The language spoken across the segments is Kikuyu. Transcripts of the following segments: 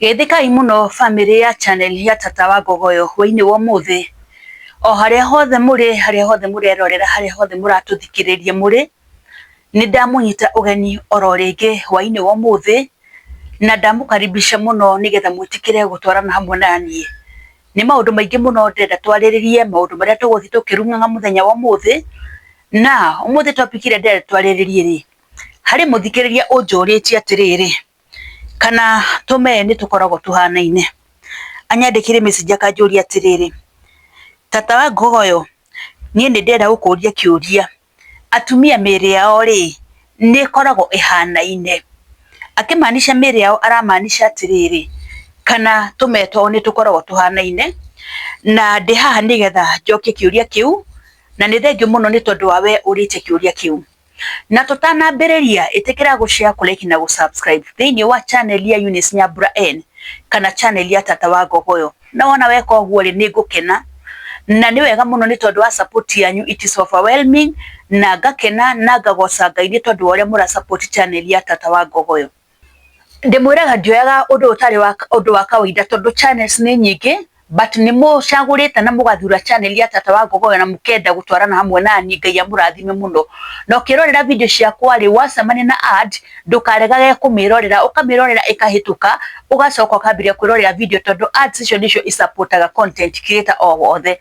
Geithĩkai mũno bamĩrĩ ya channel ya Tata wa Ngogoyo hwainĩ wa ũmũthĩ. O harĩa hothe mũrĩ, harĩa hothe mũrerorera, harĩa hothe mũratũthikĩrĩria mũrĩ, nĩ ndamũnyita ũgeni oro rĩngĩ hwainĩ wa ũmũthĩ na ndamũkaribisha mũno nĩgetha mwĩtĩkĩre gũtwarana hamwe na niĩ. Nĩ maũndũ maingĩ mũno ndĩrenda twarĩrĩrie, maũndũ marĩa tũgũthiĩ tũkĩrung'aga mũthenya wa ũmũthĩ. Na ũmũthĩ topic ĩrĩa ndĩrenda twarĩrĩrie rĩ, harĩ mũthikĩrĩria ũnjũrĩtie atĩrĩrĩ, kana tũme nĩ tũkoragwo tũhanaine. Anyandĩkĩire message akanjũria atĩrĩrĩ, tata wa Ngogoyo, niĩ nĩ ndĩrenda gũkũria kĩũria, atumia mĩĩrĩ yao rĩ, nĩ ĩkoragwo ĩhanaine? Akĩmaanisha mĩĩrĩ yao aramaanisha atĩrĩrĩ, kana tũme twao nĩ tũkoragwo tũhanaine. Na ndĩ haha nĩgetha njokie kĩũria kĩu, na nĩ thengiũ mũno nĩ tondũ wa we ũrĩte kĩũria kĩu. na tũtanambĩrĩria ĩtĩkĩra gũshare kũreki na gũsubscribe thĩinĩ wa channel ya Eunice Nyambura N kana channel ya Tata wa Ngogoyo na wona weka ũguo rĩ nĩ ngũkena na nĩ wega mũno nĩ tondũ wa support yanyu it is overwhelming na ngakena na ngagoca Ngai nĩ tondũ wa ũrĩa mũra support channel ya Tata wa Ngogoyo. ndĩmwĩraga ndioyaga ũndũ ũtarĩ wa ũndũ wa kawaida tondũ channels nĩ nyingĩ but nĩ mũcagũrĩte na mũgathura channel ya tata wa ngogoyo na mũkenda gũtwarana hamwe nani ngai amũrathime mũno na ũkĩrorera video ciakwa rĩ wacemania na ad ndũkaregage kũmĩrorera ũkamĩrorera ĩkahĩtũka ũgacoka ũkambĩrĩria kwĩrorera video tondũ ads icio nĩcio i support aga content creator o wothe.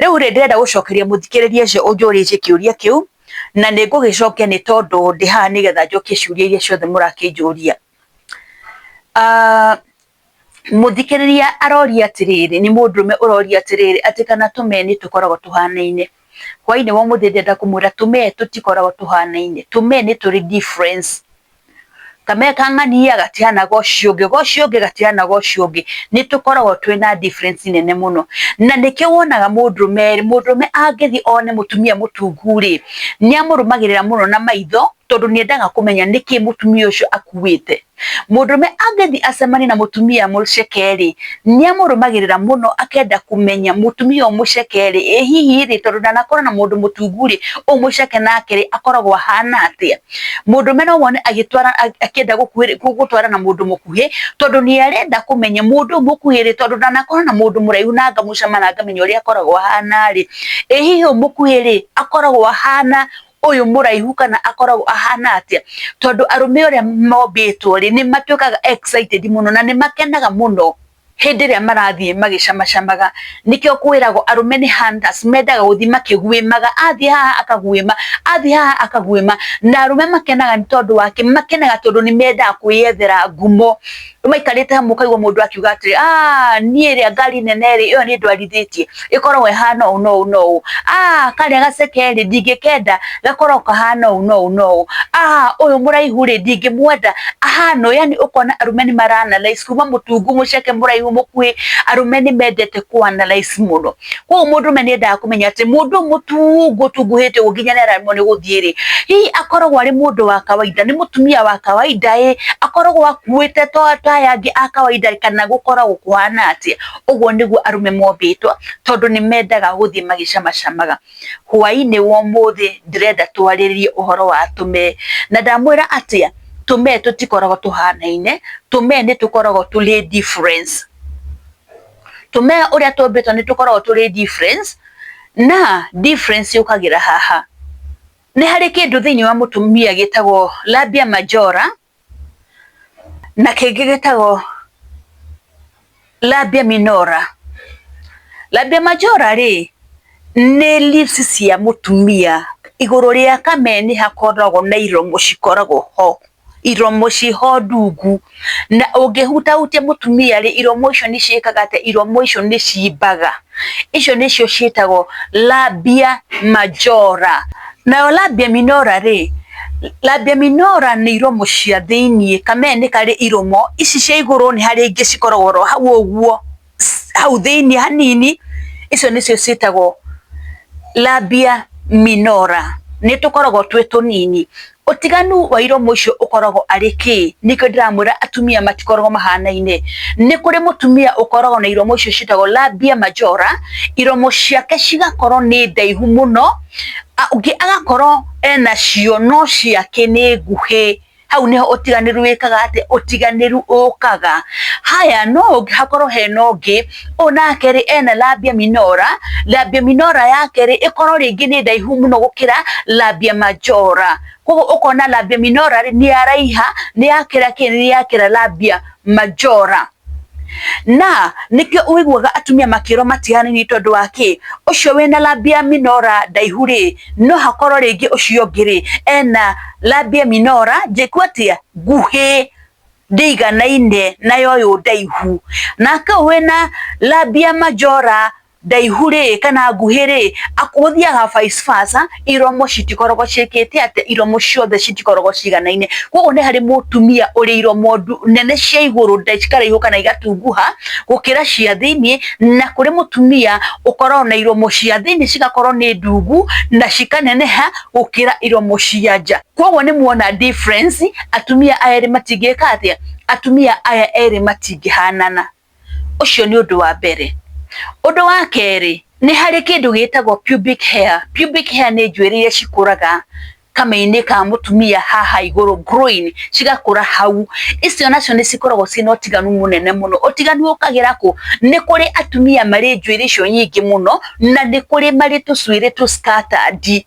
Rĩu rĩ, ndĩrenda gũcokeria mũthikĩrĩria ũcio ũnjũrĩtie kĩũria kĩu, na nĩ ngũgĩcokia nĩ tondũ ndĩ haha nĩgetha njokie ciũria iria ciothe mũrakĩnjũria. Mũthikĩrĩria aroria atĩrĩrĩ, nĩ mũndũrũme ũroria atĩrĩrĩ, atĩ kana tũmee nĩ tũkoragwo tũhanaine. Hwainĩ wa ũmũthĩ ndĩrenda kũmwĩra tũmee tũtikoragwo tũhanaine, tũmee nĩ tũrĩ difference. ka meka ng'ania gatiana ga ũcio ũngĩ, ga ũcio ũngĩ, gatiana ga ũcio ũngĩ, nĩ tũkoragwo twĩna difference nene mũno. Na nĩkĩo wonaga mũndũrũme rĩ, mũndũrũme angĩthiĩ one mũtumia mũtungu rĩ, nĩ amũrũmagĩrĩra mũno na maitho, tondũ nĩ endaga kũmenya nĩkĩ mũtumia ũcio akuĩte. Mũndũrũme angĩthiĩ acemanie na mũtumia mũceke rĩ, nĩ amũrũmagĩrĩra mũno akenda kũmenya mũtumia ũyũ mũceke rĩ, ĩ hihi rĩ, tondũ ndanakorana na mũndũ mũtungu rĩ, ũyũ mũceke nake rĩ, akoragwo ahana atĩa. mũndũ ũrũme no wone agĩtwara akĩenda gũkuhĩ- gũ- gũtwara na mũndũ mũkuhĩ tondũ nĩ arenda kũmenya mũndũ ũyũ mũkuhĩ rĩ tondũ ndanakorwo na mũndũ mũraihu na ngamũcama na ngamenya ũrĩa akoragwo ahana rĩ ĩ hihi ũyũ mũkuhĩ rĩ akoragwo ahana ũyũ mũraihu kana akoragwo ahana atĩa tondũ arũme ũrĩa mombĩtwo rĩ nĩ matuĩkaga excited mũno na nĩ makenaga mũno hĩndĩ ĩrĩa marathiĩ magĩcamacamaga. Nĩkĩo kwĩragwo arũme nĩ hunters, mendaga gũthiĩ makĩguĩmaga, athiĩ haha akaguĩma, athiĩ haha akaguĩma. Na arũme makenaga nĩ tondũ wa kĩ? Makenaga tondũ nĩ mendaga kwĩyethera ngumo. Maikarĩte hamwe ũkaigua mũndũ akiuga atĩrĩ, aah, niĩ rĩa ngari nene rĩ, ĩyo nĩ ndwarithĩtie. ĩkoragwo ĩhana ũũ na ũũ na ũũ, aah karĩa gaceke rĩ ndingĩkenda gakoragwo kahana ũũ na ũũ na ũũ, aah ũyũ mũraihu rĩ ndingĩmwenda ahana ũũ, yaani ũkona arũme nĩ mara analyse kuma mũtungu, mũceke, mũraihu, mũkuhĩ, arũme nĩ mendete kũ analyse mũno. Koguo mũndũrũme nĩ endaga kũmenya atĩ mũndũ ũyũ mũtungu ũtunguhĩte ũguo nginya nĩ aremwo nĩ gũthiĩ rĩ, hihi akoragwo arĩ mũndũ wa kawaida, nĩ mũtumia wa kawaida ĩĩ, akoragwo akuĩte ta aya angĩ a kawaida kana gũkoragwo kũhana atĩa? ũguo nĩguo arũme mombĩtwo tondũ nĩ mendaga gũthiĩ magĩcamacamaga hwaĩ-inĩ wa ũmũthĩ ndĩrenda twarĩrĩrie ũhoro wa tũme na ndamwĩra atĩa tũme tũtikoragwo tũhanaine tũme nĩ tũkoragwo tũrĩ difference tũme ũrĩa tũmbĩtwo nĩ tũkoragwo tũrĩ difference na difference yũkagĩra haha nĩ harĩ kĩndũ thĩinĩ wa mũtumia gĩtagwo labia majora na kĩngĩ gĩtagwo labia minora. Labia majora rĩ nĩ leaves cia mũtumia igũrũ rĩa kameni hakoragwo na iromo cikoragwo ho iromo ciho ndungu na ũngĩhutahutia mũtumia rĩ iromo icio nĩ ciĩkaga atĩ iromo icio nĩ cimbaga icio nĩcio ciĩtagwo labia majora nayo labia minora rĩ La Deminora nĩ iromo cia thĩinĩ, kamee nĩ karĩ iromo, ici cia igũrũ nĩ harĩa ingĩ cikoragwo oro hau ũguo, hau thĩinĩ hanini, icio nĩcio ciĩtagwo Labia Minora, nĩ tũkoragwo twĩ tũnini. Ũtiganu wa iromo icio ũkoragwo arĩ kĩĩ? Nĩkĩo ndĩramwĩra atumia matikoragwo mahanaine, nĩ kũrĩ mũtumia ũkoragwo na iromo icio ciĩtagwo Labia Majora, iromo ciake cigakorwo nĩ ndaihu mũno. ũngĩ agakorwo ena cio no ciake nĩ nguhĩ, hau nĩho ũtiganĩru wĩkaga atĩa, ũtiganĩru ũkaga. Haya no ũngĩ hakorwo hena ũngĩ, ũyũ nake rĩ ena labia minora, labia minora yake rĩ ĩkorwo rĩngĩ nĩ ndaihu mũno gũkĩra labia majora, koguo ũkona labia minora rĩ nĩ yaraiha, nĩ yakĩra kĩ, nĩ yakĩra labia majora. na nĩkĩo ũiguaga atumia makĩrwo matiganĩrie tondũ wa kĩ ũcio wĩna lambia minora ndaihu rĩ no hakorwo rĩngĩ ũcio ũngĩ rĩ ena lambia minora njĩku atĩa nguhĩ ndĩiganaine nayo ũyũ ndaihu nake ũyũ wĩna lambia majora ndaihu rĩ kana nguhĩ rĩ gũthiaga vice versa iromo citikoragwo ciĩkĩte atĩ iromo ciothe citikoragwo ciganaine koguo nĩ harĩ mũtumia ũrĩ iromo nene cia igũrũ cikaraihu kana igatunguha gũkĩra cia thĩinĩ na kũrĩ mũtumia ũkoragwo na iromo cia thĩinĩ cigakorwo nĩ ndungu na cikaneneha gũkĩra iromo cia nja koguo nĩ muona difference atumia aya erĩ matingĩka atĩa atumia aya erĩ matingĩhanana. Ũcio nĩ ũndũ wa mbere. Ũndũ wa kerĩ, nĩ harĩ kĩndũ gĩtagwo pubic hair. Pubic hair nĩ njuĩrĩ iria cikũraga kameinĩ ka mũtumia haha igũrũ groin, cigakũra hau. Icio nacio nĩ cikoragwo ciĩna ũtiganu mũnene mũno. Ũtiganu ũkagĩra kũ? Nĩ kũrĩ atumia marĩ njuĩrĩ icio nyingĩ mũno, na nĩ kũrĩ marĩ tũcuĩrĩ tũ scattered.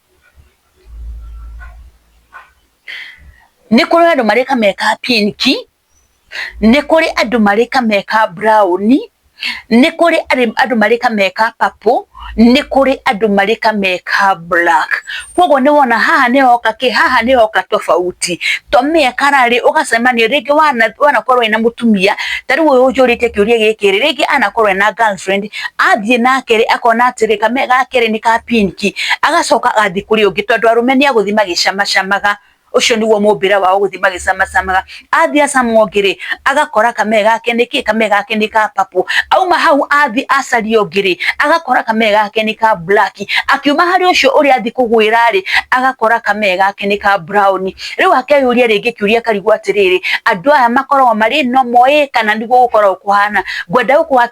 Nĩ kũrĩ andũ marĩ ka me ka pink, nĩ kũrĩ andũ marĩ ka me ka brown, nĩ kũrĩ andũ marĩ ka me ka purple, nĩ kũrĩ andũ marĩ ka me ka black. Kwoguo nĩ wona haha nĩ hoka kĩ? Haha nĩ hoka tofauti. To me color rĩ, ũgacemania rĩngĩ wanakorwo wĩna mũtumia, ta rĩu ũyũ ũnjũrĩtie kĩũria gĩkĩ rĩ, rĩngĩ anakorwo ena girlfriend. a thiĩ na kerĩ akona atĩrĩ kame ga kerĩ nĩ ka pinki, agacoka agathiĩ kũrĩ ũngĩ tondũ arũme nĩ agũthiĩ magĩcamacamaga, ũcio nĩguo mũmbĩre wao gũthiĩ magĩcamacamaga. Athiĩ acama ũngĩ rĩ, agakora kame gake nĩ kĩ? Kame gake nĩ ka purple. Auma hau athiĩ acarie ũngĩ rĩ, agakora kame gake nĩ ka black. Akiuma harĩ ũcio ũrĩa athiĩ kũgwĩra rĩ, agakora kame gake nĩ ka brown. Rĩu akeyũria rĩngĩ kĩũria karigwo atĩrĩrĩ, andũ aya makoragwo marĩ normal ĩ kana nĩguo gũkoragwo kũhana? Ngwenda gũkũ.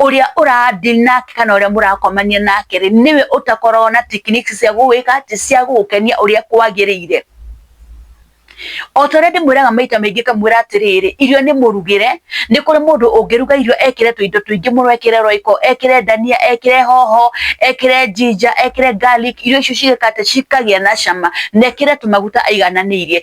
ũrĩa ũrandi nake kana ũrĩa mũrakomania nake rĩ nĩwe ũtakoragwo na techniques cia gũgwĩka atĩ cia gũgũkenia ũrĩa kwagĩrĩire o ta ũrĩa ndĩmwĩraga maita maingĩ kamwĩra atĩrĩrĩ irio nĩ mũrugĩre nĩ kũrĩ mũndũ ũngĩruga irio ekĩre tũindo tũingĩ mũno ekĩre roiko ekĩre ndania ekĩre hoho ekĩre njinja ekĩre garlic irio icio cigĩka atĩ cikagĩa na cama na ekĩre tũmaguta aigananĩirie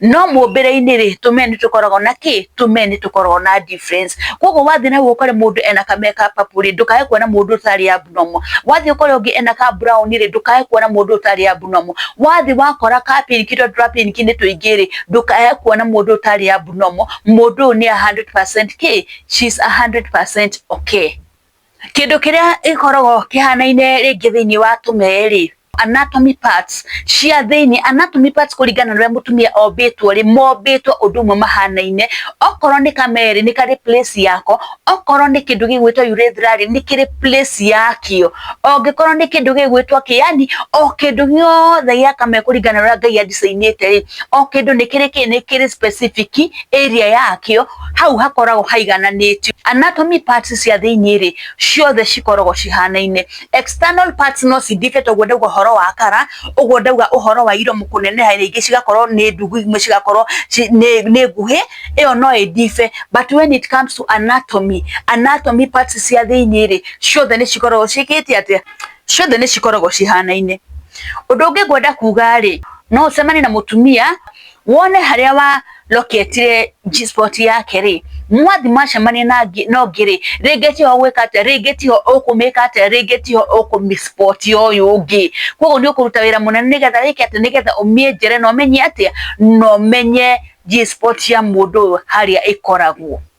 no mũmbĩre-inĩ rĩ tũ men tũkoragwo na kĩ? tũ men tũkoragwo na difference. Koguo wathiĩ na ũkore mũndũ ena ka make up rĩ, ndũkae kuona mũndũ ũtarĩ abnormal, wathiĩ ũkore ũngĩ ena ka brown rĩ, ndũkae kuona mũndũ ũtarĩ abnormal, wathiĩ wakora ka pink tondũ twa pink nĩ tũingĩ rĩ, ndũkae kuona mũndũ ũtarĩ abnormal, mũndũ ũyũ nĩ a hundred percent kĩ? she's a hundred percent okay. Kĩndũ kĩrĩa gĩkoragwo kĩhanaine rĩngĩ thĩinĩ wa tũmee rĩ, anatomy parts cia thĩinĩ. Anatomy parts kũringana na ũrĩa mũtumia ombĩtwo rĩ, mombĩtwo ũndũ ũmwe mahanaine. Okorwo nĩ kamee rĩ, nĩ karĩ place yako, okorwo nĩ kĩndũ gĩgwĩtwo urethra rĩ, nĩ kĩrĩ place yakĩo. Ongĩkorwo nĩ kĩndũ gĩgwĩtwo kĩ, yani o kĩndũ gĩothe gĩa kamee kũringana na ũrĩa Ngai a design ĩte rĩ, o kĩndũ nĩ kĩrĩ kĩ, nĩ kĩrĩ specific area yakĩo, hau hakoragwo haigananĩtio. Anatomy parts cia thĩinĩ rĩ, ciothe cikoragwo cihanaine. External parts no ci differ ta ũguo ndauga ũhoro wa kara, ũguo ndauga ũhoro wa iromo kũneneha rĩngĩ cigakorwo nĩ ndungu imwe cigakorwo nĩ nguhĩ, ĩyo no ĩ differ. But when it comes to anatomy, anatomy parts cia thĩinĩ rĩ, ciothe nĩ cikoragwo ciĩkĩte atĩa? Ciothe nĩ cikoragwo cihanaine. Ũndũ ũngĩ ngwenda kuga rĩ, no ũcemanie na mũtumia wone harĩa wa loketire G-spot yake rĩ mwathi macemania na no ngĩrĩ rĩngĩ tiho gwĩka atĩa rĩngĩ tiho ũkũmĩka atĩa rĩngĩ tiho ũkũmĩspot ũyũ ũngĩ koguo nĩ ũkũruta wĩra mũnene nĩgetha wĩke atĩ nĩgetha ũmĩenjere na ũmenye atĩa na ũmenye G-spot ya mũndũ ũyũ harĩa ĩkoragwo.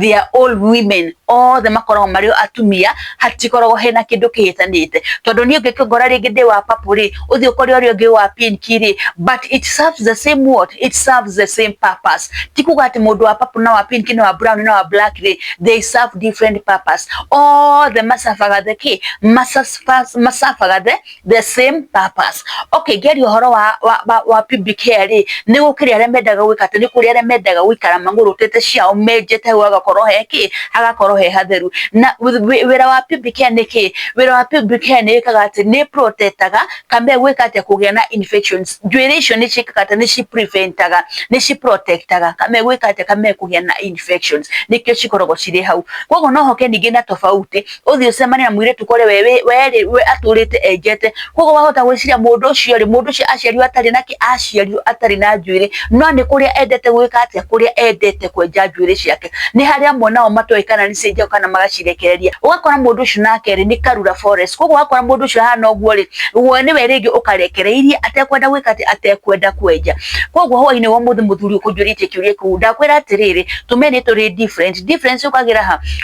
they are all women othe makoragwo marĩ atumia hatikoragwo hena kĩndũ kĩhĩtanĩte tondũ niĩ ũngĩkĩngora rĩngĩ ndĩ wa papu rĩ ũthiĩ ũkore ũrĩa ũngĩ wa pink rĩ but it serves the same what it serves the same purpose ti kuga atĩ mũndũ wa papu na wa pink na wa brown na wa black rĩ they serve different purpose othe macabaga the kĩ macabaga the the same purpose okay geri horo wa wa, wa, wa PBK ri ni gukiri aria mendaga gwika te ni kuri aria mendaga gwikara manguru tete ciao menjete hu agakorwo he ki agakorwo he hatheru na wira wa PBK ni ki wira wa PBK ni ikaga ati ni protectaga kambe gwika ati kugia na infections njuiri icio ni cikaga ati ni ci preventaga ni ci protectaga kambe gwika ati kambe kugia na infections nikio cikoragwo ciri hau koguo no hoke ningi na tofauti uthi ucemane na mwiritu kore we we we aturite enjete kogo wahota gwiciria mundu ucio ri mundu ucio aciario atari na ki aciario atari na njuiri no ni kuria endete gwika atia kuria endete kwenja njuiri ciake ni haria amwe nao matoe kana ni cenjao kana magacirekereria ugakora mundu ucio nake ri ni karura forest kogo wakora mundu ucio hana uguo ri we ni we ringi ukarekereirie atekwenda gwika ati atekwenda kwenja kogo hwaini wa muthi muthuri ukunjuritie kiuria kiu ndakwira atiriri tumeni turi different difference ukagira ha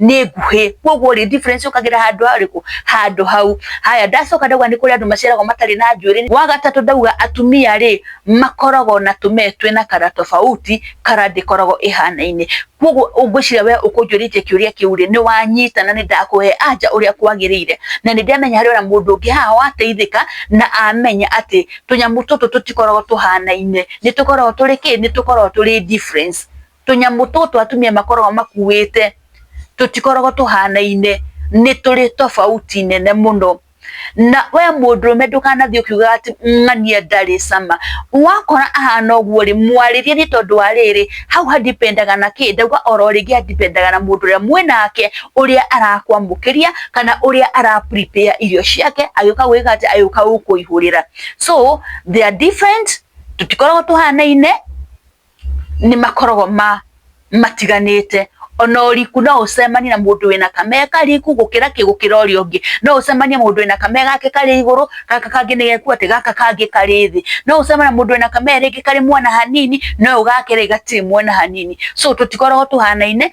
nĩ nguhĩ koguo rĩ difference ũkagĩra handũ harĩkũ handũ hau haya ndacoka ndauga nĩ kũrĩ andũ maciaragwo matarĩ na njuĩrĩ wa gatatũ ndauga atumia rĩ makoragwo na tũmee twĩ na kara tofauti kara ndĩkoragwo ĩhanaine koguo ũngwĩciria we ũkũnjũrĩtie kĩũria kĩu rĩ nĩ wanyita na nĩ ndakũhe anja ũrĩa kwagĩrĩire na nĩ ndĩramenya harĩ ona mũndũ ũngĩ haha wateithĩka na amenya atĩ tũnyamũ tũtũ tũtikoragwo tũhanaine nĩ tũkoragwo tũrĩ kĩ nĩ tũkoragwo tũrĩ difference tũnyamũ tũtũ atumia makoragwo makuĩte tũtikoragwo tũhanaine nĩ tũrĩ tofauti nene mũno na we mũndũrũme ndũkanathiĩ ũkiugaga atĩ ng'ania ndarĩ cama wakora ahana ũguo rĩ mwarĩrie nĩ tondũ wa rĩrĩ hau handipendaga na kĩ ndauga oro rĩngĩ handipendaga na mũndũ ũrĩa mwĩ nake ũrĩa arakwamũkĩria kana ũrĩa ara prepare irio ciake agĩũka gwĩka atĩ agĩũka gũkũihũrĩra so they are different tũtikoragwo tũhanaine nĩ makoragwo ma matiganĩte ona ũriku no ũcemanie na mũndũ wĩna kamega kariku gũkĩra kĩ gũkĩra ũrĩa ũngĩ no ũcemanie na mũndũ wĩna kamega gake karĩ igũrũ gaka kangĩ nĩ geku atĩ gaka kangĩ karĩ thĩ no ũcemanie na mũndũ wĩna kamega rĩngĩ karĩ mwena hanini na ũyũ gake rĩ gatirĩ mwena hanini so tũtikoragwo tũhanaine.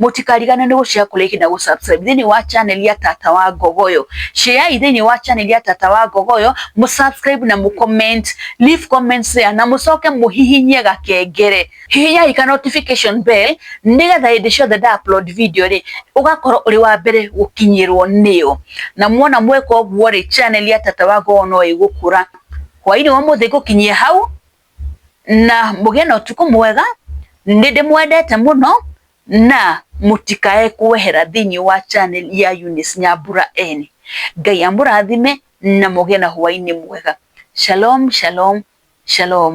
mũtikarigane nĩ gũcea kũrĩa ihinda gũ subscribe thĩinĩ wa channel ya tata wa ngogoyo ceai thĩinĩ wa channel ya tata wa ngogoyo mũ subscribe na mũ comment leave comments there na mũcoke mũhihinye gakengere hihinyai ka notification bell nĩgetha hĩndĩ ciothe nda upload video rĩ ũgakorwo ũrĩ wa mbere gũkinyĩrwo nĩyo na muona mweka ũguo rĩ channel ya tata wa ngogoyo no ĩgũkũra hwainĩ wa mũthĩ ngũkinyie hau na mũgĩe na ũtukũ mwega, nĩ ndĩmwendete mũno, na mũtikae kwehera thĩinĩ wa channel ya Eunice Nyambura Eni. Ngai amũrathime na mũgĩe na hwainĩ mwega. Shalom, shalom, shalom.